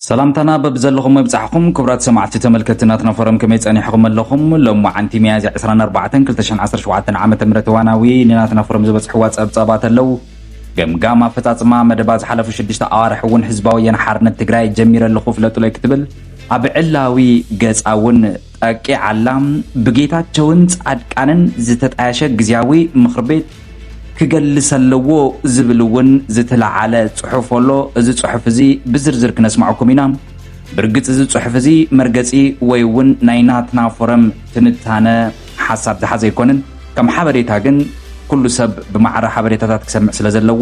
ሰላምታና በብዘለኹሞ ይብጻሕኹም ክቡራት ሰማዕቲ ተመልከቲ ናትና ፎረም ከመይ ጸኒሕኹም ኣለኹም ሎም መዓንቲ ሚያዝያ 24 2017 ዓመተ ምህረት እዋናዊ ንናትና ፎረም ዝበጽሕዋ ጸብጻባት ኣለው ገምጋም ኣፈጻጽማ መደባ ዝሓለፉ ሽዱሽተ ኣዋርሕ እውን ህዝባዊ ወያነ ሓርነት ትግራይ ጀሚረ ኣለኹ ፍለጡለይ ክትብል ኣብ ዕላዊ ገጻ እውን ጠቂዓላ። ብጌታቸውን ፃድቃንን ዝተጣየሸ ግዝያዊ ምኽሪ ቤት ክገልስ ኣለዎ ዝብል እውን ዝተለዓለ ፅሑፍ ኣሎ። እዚ ፅሑፍ እዚ ብዝርዝር ክነስማዕኩም ኢና። ብርግፅ እዚ ፅሑፍ እዚ መርገፂ ወይ እውን ናይ ናትና ፎረም ትንታነ ሓሳብ ዝሓዘ ኣይኮነን። ከም ሓበሬታ ግን ኩሉ ሰብ ብማዕረ ሓበሬታታት ክሰምዕ ስለዘለዎ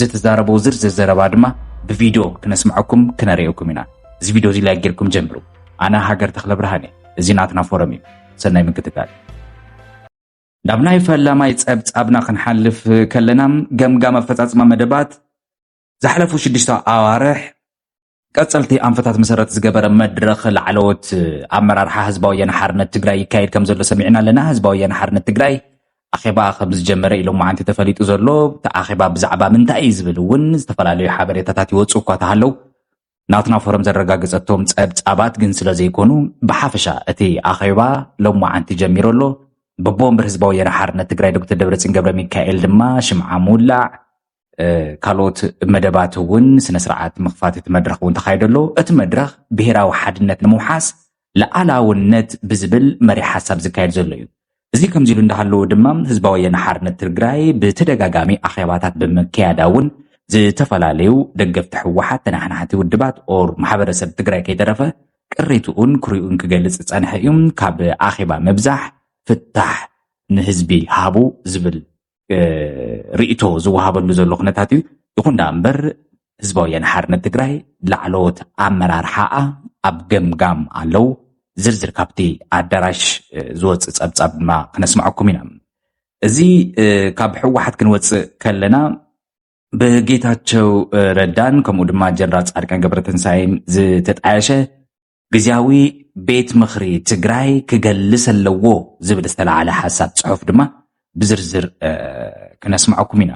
ዝተዛረቦ ዝርዝር ዘረባ ድማ ብቪድዮ ክነስምዐኩም ክነርእየኩም ኢና። እዚ ቪድዮ እዚ ላይክ ጌርኩም ጀምሩ። ኣነ ሃገር ተክለ ብርሃን እየ። እዚ ናትና ፎረም እዩ። ሰናይ ምክትታል። ናብ ናይ ፈላማይ ጸብጻብና ክንሓልፍ ከለና ገምጋም ኣፈጻጽማ መደባት ዝሓለፉ ሽዱሽተ ኣዋርሕ ቀፀልቲ ኣንፈታት መሰረት ዝገበረ መድረኽ ላዕለዎት ኣመራርሓ ህዝባዊ ወያነ ሓርነት ትግራይ ይካየድ ከም ዘሎ ሰሚዕና ኣለና። ህዝባዊ ወያነ ሓርነት ትግራይ ኣኼባ ከም ዝጀመረ ኢሎ መዓንቲ ተፈሊጡ ዘሎ እቲ ኣኼባ ብዛዕባ ምንታይ እዩ ዝብል እውን ዝተፈላለዩ ሓበሬታታት ይወፁ እኳ ተሃለው ናትና ፎረም ዘረጋገፀቶም ፀብፃባት ግን ስለ ዘይኮኑ ብሓፈሻ እቲ ኣኼባ ሎም መዓንቲ ጀሚሩ ኣሎ። ብቦምብር ህዝባዊ ወያነ ሓርነት ትግራይ ዶክተር ደብረፅዮን ገብረ ሚካኤል ድማ ሽምዓ ምውላዕ ካልኦት መደባት እውን ስነስርዓት ምኽፋት እቲ መድረኽ እውን ተኻይዶ ኣሎ እቲ መድረኽ ብሄራዊ ሓድነት ንምውሓስ ለኣላውነት ብዝብል መሪ ሓሳብ ዝካየድ ዘሎ እዩ እዚ ከምዚ ኢሉ እንዳሃለዎ ድማ ህዝባዊ ወያነ ሓርነት ትግራይ ብተደጋጋሚ ኣኼባታት ብምክያዳ እውን ዝተፈላለዩ ደገፍቲ ሕወሓት ተናሕናሕቲ ውድባት ኦር ማሕበረሰብ ትግራይ ከይተረፈ ቅሬትኡን ክሪኡን ክገልፅ ዝፀንሐ እዩ ካብ ኣኼባ ምብዛሕ ፍታሕ ንህዝቢ ሃቡ ዝብል ርእቶ ዝወሃበሉ ዘሎ ኩነታት እዩ ይኹን ዳ እምበር ህዝባዊ ወያነ ሓርነት ትግራይ ላዕለዎት ኣመራርሓኣ ኣብ ገምጋም ኣለው ዝርዝር ካብቲ ኣዳራሽ ዝወፅእ ፀብፃብ ድማ ክነስማዐኩም ኢና እዚ ካብ ሕወሓት ክንወፅእ ከለና ብጌታቸው ረዳን ከምኡ ድማ ጀነራል ፃድቃን ገብረትንሳኤን ዝተጣየሸ ግዝያዊ ቤት ምኽሪ ትግራይ ክገልስ ኣለዎ ዝብል ዝተላዓለ ሓሳብ ፅሑፍ ድማ ብዝርዝር ክነስማዐኩም ኢና።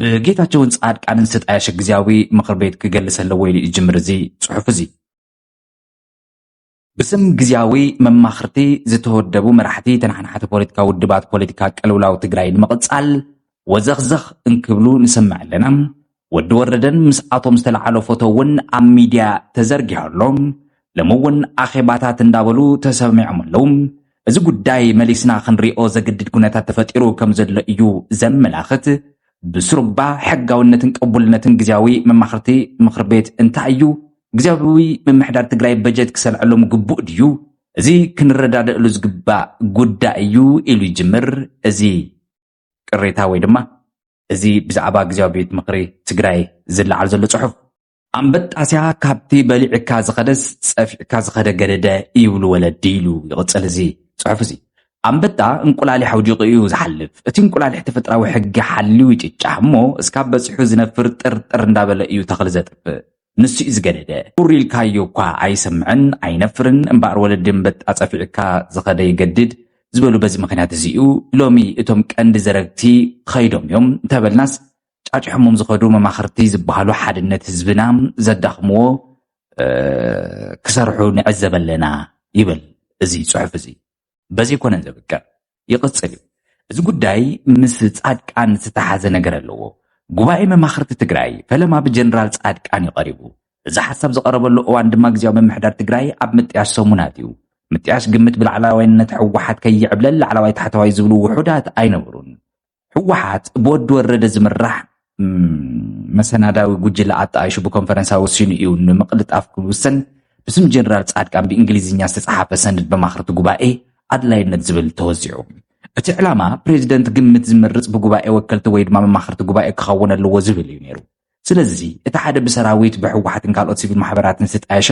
ብጌታቸውን ፃድቃንን ዝተጣየሸ ግዝያዊ ምኽር ቤት ክገልስ ኣለዎ ኢሉ ይጅምር እዚ ፅሑፍ እዚ። ብስም ግዝያዊ መማኽርቲ ዝተወደቡ መራሕቲ ተናሓናሕቲ ፖለቲካ ውድባት ፖለቲካ ቅልውላው ትግራይ ንምቕፃል ወዘኽዘኽ እንክብሉ ንሰምዕ ኣለና። ወዲ ወረደን ምስኣቶም ዝተለዓሎ ፎቶ እውን ኣብ ሚድያ ተዘርጊሑ ኣሎ። ሎሚ እውን ኣኼባታት እንዳበሉ ተሰሚዖም ኣለዉ። እዚ ጉዳይ መሊስና ክንሪኦ ዘግድድ ኩነታት ተፈጢሩ ከም ዘሎ እዩ ዘመላኽት። ብስሩባ ሕጋዊነትን ቅቡልነትን ግዝያዊ መማኽርቲ ምኽሪ ቤት እንታይ እዩ? ግዝያዊ ምምሕዳር ትግራይ በጀት ክሰልዐሎም ግቡእ ድዩ? እዚ ክንረዳደእሉ ዝግባእ ጉዳይ እዩ ኢሉ ይጅምር እዚ ቅሬታ ወይ ድማ እዚ ብዛዕባ ግዜያዊ ቤት ምኽሪ ትግራይ ዝለዓል ዘሎ ጽሑፍ ኣንበጣስያ ካብቲ በሊዕካ ዝኸደስ ጸፊዕካ ዝኸደ ገደደ ይብሉ ወለዲ ኢሉ ይቕጽል እዚ ጽሑፍ እዚ ኣንበጣ እንቁላሊሕ ኣውዲቑ እዩ ዝሓልፍ እቲ እንቁላሊሕ ተፈጥራዊ ሕጊ ሓልዩ ይጭጫ እሞ እስካብ በፂሑ ዝነፍር ጥርጥር እንዳበለ እዩ ተኽሊ ዘጥፍእ ንሱ'ዩ ዝገደደ። ሑር ኢልካዮ እኳ ኣይሰምዕን ኣይነፍርን፣ እምበኣር ወለዲ ኣንበጣ ጸፊዑካ ዝኸደ ይገድድ ዝበሉ በዚ ምኽንያት እዚ'ዩ። ሎሚ እቶም ቀንዲ ዘረግቲ ከይዶም እዮም እንተበልናስ ጫጭሖሞም ዝኸዱ መማኽርቲ ዝበሃሉ ሓድነት ህዝብና ዘዳኽምዎ ክሰርሑ ንዕዘብ ኣለና ይብል እዚ ጽሑፍ እዚ። በዚ ኣይኮነን ዘብቅዕ። ይቕፅል እዩ። እዚ ጉዳይ ምስ ፃድቃን ዝተተሓዘ ነገር ኣለዎ። ጉባኤ መማኽርቲ ትግራይ ፈለማ ብጀነራል ፃድቃን እዩ ቀሪቡ። እዚ ሓሳብ ዝቐረበሉ እዋን ድማ ግዝያዊ ምምሕዳር ትግራይ ኣብ ምጥያሽ ሰሙናት እዩ። ምጥያሽ ግምት ብላዕላዋይነት ህወሓት ከይዕብለል ላዕላዋይ ታሕተዋይ ዝብሉ ውሑዳት ኣይነበሩን። ህወሓት ብወዲ ወረደ ዝምራሕ መሰናዳዊ ጉጅለ ኣጣይሹ ብኮንፈረንሳ ወሲኑ እዩ ንምቕልጣፍ ክውሰን ብስም ጀነራል ጻድቃን ብእንግሊዝኛ ዝተጻሓፈ ሰነድ መማኽርቲ ጉባኤ ኣድላይነት ዝብል ተወዚዑ እቲ ዕላማ ፕሬዚደንት ግምት ዝምርፅ ብጉባኤ ወከልቲ ወይ ድማ መማኽርቲ ጉባኤ ክኸውን ኣለዎ ዝብል እዩ ነይሩ ስለዚ እቲ ሓደ ብሰራዊት፣ ብህወሓትን ካልኦት ሲቪል ማሕበራትን ዝተጣየሸ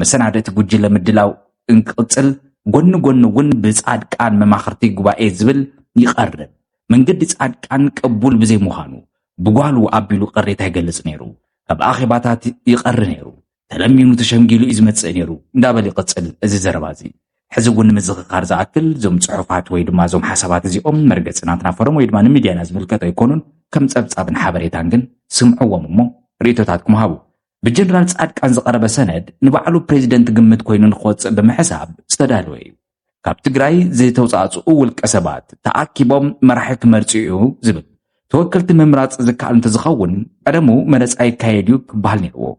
መሰናድእቲ ጉጅለ ምድላው እንክቕፅል ጎኒ ጎኒ እውን ብፃድቃን መማኽርቲ ጉባኤ ዝብል ይቐርብ መንገዲ ፃድቃን ቅቡል ብዘይምዃኑ ብጓሉ ኣቢሉ ቅሬታ ይገልፅ ነይሩ ካብ ኣኼባታት ይቐሪ ነይሩ ተለሚኑ ተሸምጊሉ እዩ ዝመጽእ ነይሩ እንዳበል ይቕጽል እዚ ዘረባ እዚ ሕዚ እውን ንምዝኽኻር ዝኣክል እዞም ጽሑፋት ወይ ድማ እዞም ሓሳባት እዚኦም መርገጺ ናትና ፎረም ወይ ድማ ንሚድያና ዝምልከት ኣይኮኑን ከም ጸብጻብን ሓበሬታን ግን ስምዕዎም እሞ ርእቶታትኩም ሃቡ ብጀነራል ጻድቃን ዝቐረበ ሰነድ ንባዕሉ ፕሬዚደንት ግምት ኮይኑ ንክወጽእ ብምሕሳብ ዝተዳለወ እዩ ካብ ትግራይ ዝተውፃእፅኡ ውልቀ ሰባት ተኣኪቦም መራሒ ክመርፁ እዩ ዝብል ተወከልቲ ምምራፅ ዝከኣል እንተዝኸውን ቀደሙ መረፃ ይካየድ እዩ ክበሃል ነይርዎ።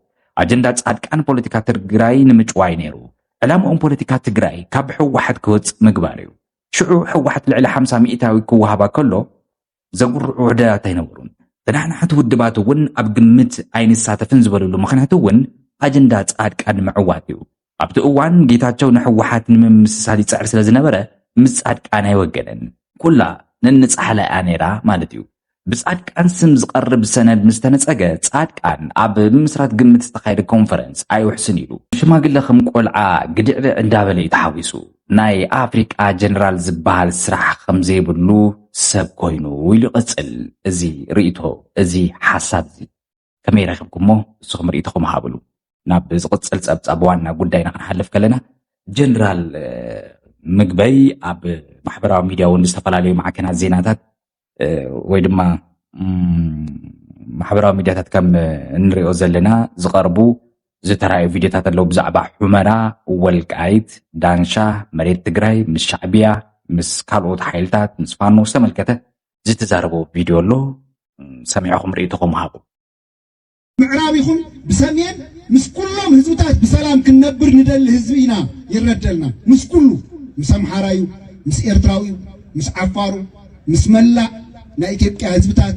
ኣጀንዳ ፃድቃን ፖለቲካ ትግራይ ንምጭዋይ ነይሩ። ዕላምኦም ፖለቲካ ትግራይ ካብ ሕወሓት ክወፅእ ምግባር እዩ። ሽዑ ሕወሓት ልዕሊ ሓምሳ ሚእታዊ ክወሃባ ከሎ ዘጉርዑ ውሕደራት ኣይነበሩን። ተናሓናሕቲ ውድባት እውን ኣብ ግምት ኣይንሳተፍን ዝበልሉ ምኽንያት እውን ኣጀንዳ ፃድቃን ንምዕዋት እዩ። ኣብቲ እዋን ጌታቸው ንሕወሓት ንምምስሳል ይፅዕር ስለዝነበረ ምስ ፃድቃን ኣይወገነን። ኩላ ነንፃሕላ እያ ነይራ ማለት እዩ። ብፃድቃን ስም ዝቐርብ ሰነድ ምስ ተነፀገ ፃድቃን ኣብ ምምስራት ግምት ዝተኻየደ ኮንፈረንስ ኣይውሕስን ኢሉ ሽማግለ ከም ቆልዓ ግድዕድዕ እንዳበለ እዩ ተሓዊሱ። ናይ ኣፍሪቃ ጀነራል ዝበሃል ስራሕ ከም ዘይብሉ ሰብ ኮይኑ ኢሉ ይቕጽል። እዚ ርእይቶ እዚ ሓሳብ እዚ ከመይ ረኺብኩሞ ንስኹም ርእይቶኹም ሃብሉ። ናብ ዝቕጽል ጸብጻብ ዋና ጉዳይና ክንሓልፍ ከለና ጀነራል ምግበይ ኣብ ማሕበራዊ ሚድያ እውን ዝተፈላለዩ ማዕከናት ዜናታት ወይ ድማ ማሕበራዊ ሚድያታት ከም እንሪኦ ዘለና ዝቐርቡ ዝተራእዩ ቪድዮታት ኣለዉ ብዛዕባ ሑመራ፣ ወልቃይት፣ ዳንሻ፣ መሬት ትግራይ ምስ ሻዕብያ ምስ ካልኦት ሓይልታት ምስ ፋኖ ዝተመልከተ ዝተዛረቦ ቪድዮ ኣሎ ሰሚዕኹም ርእይቶኹም ሃቡ። ምዕራብ ይኹን ብሰሜን ምስ ኩሎም ህዝብታት ብሰላም ክንነብር ንደሊ ህዝቢ ኢና ይረደልና ምስ ኩሉ ምስ ኣምሓራ እዩ ምስ ኤርትራዊ እዩ ምስ ዓፋሩ ምስ መላእ ናይ ኢትዮጵያ ህዝብታት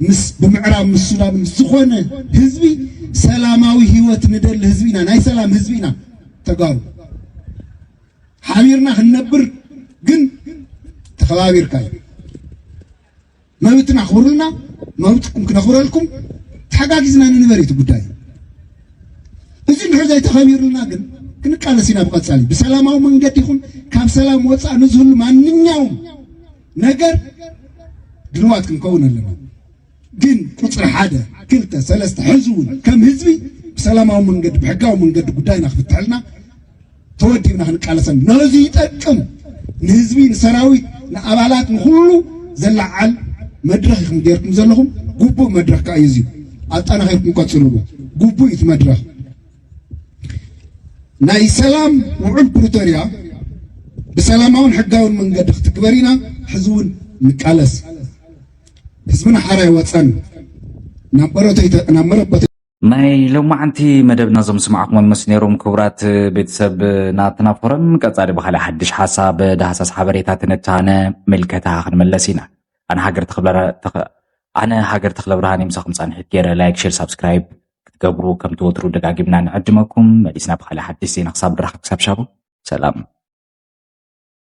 ምስ ብምዕራብ ምስ ሱዳን ምስ ዝኾነ ህዝቢ ሰላማዊ ህይወት ንደሊ ህዝቢ ኢና ናይ ሰላም ህዝቢ ኢና ተጋሩ ሓቢርና ክንነብር ግን ተኸባቢርካ እዩ መብትና ኣኽብሩልና፣ መብትኩም ክነኽብረልኩም ተሓጋጊዝና ንንበር እዩ ጉዳይ። እዚ እንድሕር ዘይተኸቢሩልና ግን ክንቃለስ ኢና ብቐጻሊ ብሰላማዊ መንገዲ ይኹን ካብ ሰላም ወፃእ ንዝህሉ ማንኛውም ነገር ድልዋት ክንከውን ኣለና። ግን ቁፅሪ ሓደ ክልተ ሰለስተ ሕዚ እውን ከም ህዝቢ ብሰላማዊ መንገዲ ብሕጋዊ መንገዲ ጉዳይና ክፍትሐልና ተወዲብና ክንቃለሰን ነዚ ይጠቅም ንህዝቢ ንሰራዊት ንኣባላት ንኩሉ ዘለዓል መድረኽ ኢኹም ጌርኩም ዘለኹም ጉቡእ መድረኽ ከዓ እዩ ኣጠናኺርኩም ቀፅሉሉ ጉቡእ እዩ እቲ መድረኽ ናይ ሰላም ውዑል ፕሪቶሪያ ብሰላማውን ሕጋውን መንገዲ ክትግበር ኢና ሕዚ እውን ንቃለስ ህዝብና ሓራ ይወፀን ናብ መረበተ ናይ ሎማዓንቲ መደብና ዞም ስማዕኹም ምስ ነይሮም ክቡራት ቤተሰብ ናትና ፎረም ቀፃሊ ብካልእ ሓድሽ ሓሳብ ዳህሳስ ሓበሬታ ትንታነ ምልከታ ክንመለስ ኢና ኣነ ሃገር ኣነ ሃገር ተክለ ብርሃን ምሳኹም ፃንሒት ገይረ ላይክ ሼር ሳብስክራይብ ክትገብሩ ከም ትወትሩ ደጋጊምና ንዕድመኩም መሊስና ብካልእ ሓድሽ ዜና ክሳብ ድራኽ ክሳብ ሻቡ ሰላም